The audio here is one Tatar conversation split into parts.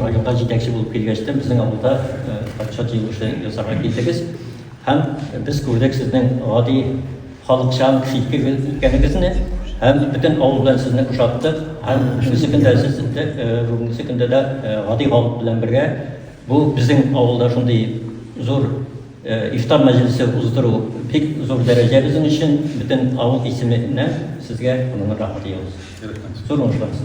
Районга җитәкче булып килгәч тә безнең авылда патша җыелышы ясарга килдегез һәм без күрдек сезнең гади халыкчан читкегез икәнегезне һәм бөтен авыл белән сезне ошаттык һәм шусы көндә сез бүгенге көндә дә гади халык белән бергә бу безнең авылда шундый зур ифтар мәҗлесе уздыру бик зур дәрәҗә безнең өчен бөтен авыл исеменнән сезгә моны рәхмәт егыз зур уңышлар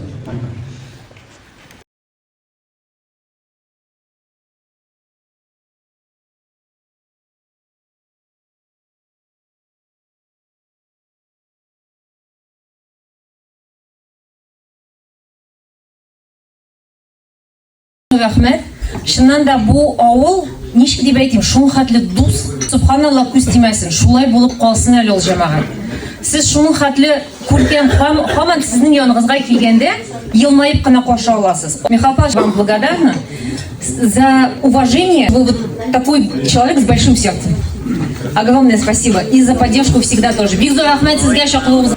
рәхмәт чыннан да бу авыл ничек дип әйтим шул хәтле дус субханалла күз тимәсен шулай булып калсын әле ул җәмәгать сез шуның хәтле Күркәм ханым, һаман сезнең яныгызга килгәндә, елмаеп кына каршы аласыз. Михаил Павлович, вам благодарна за уважение. Вы вот такой человек с большим сердцем. Огромное спасибо. И за поддержку всегда тоже. Бик зур рәхмәт сезгә чаклыгыгыз.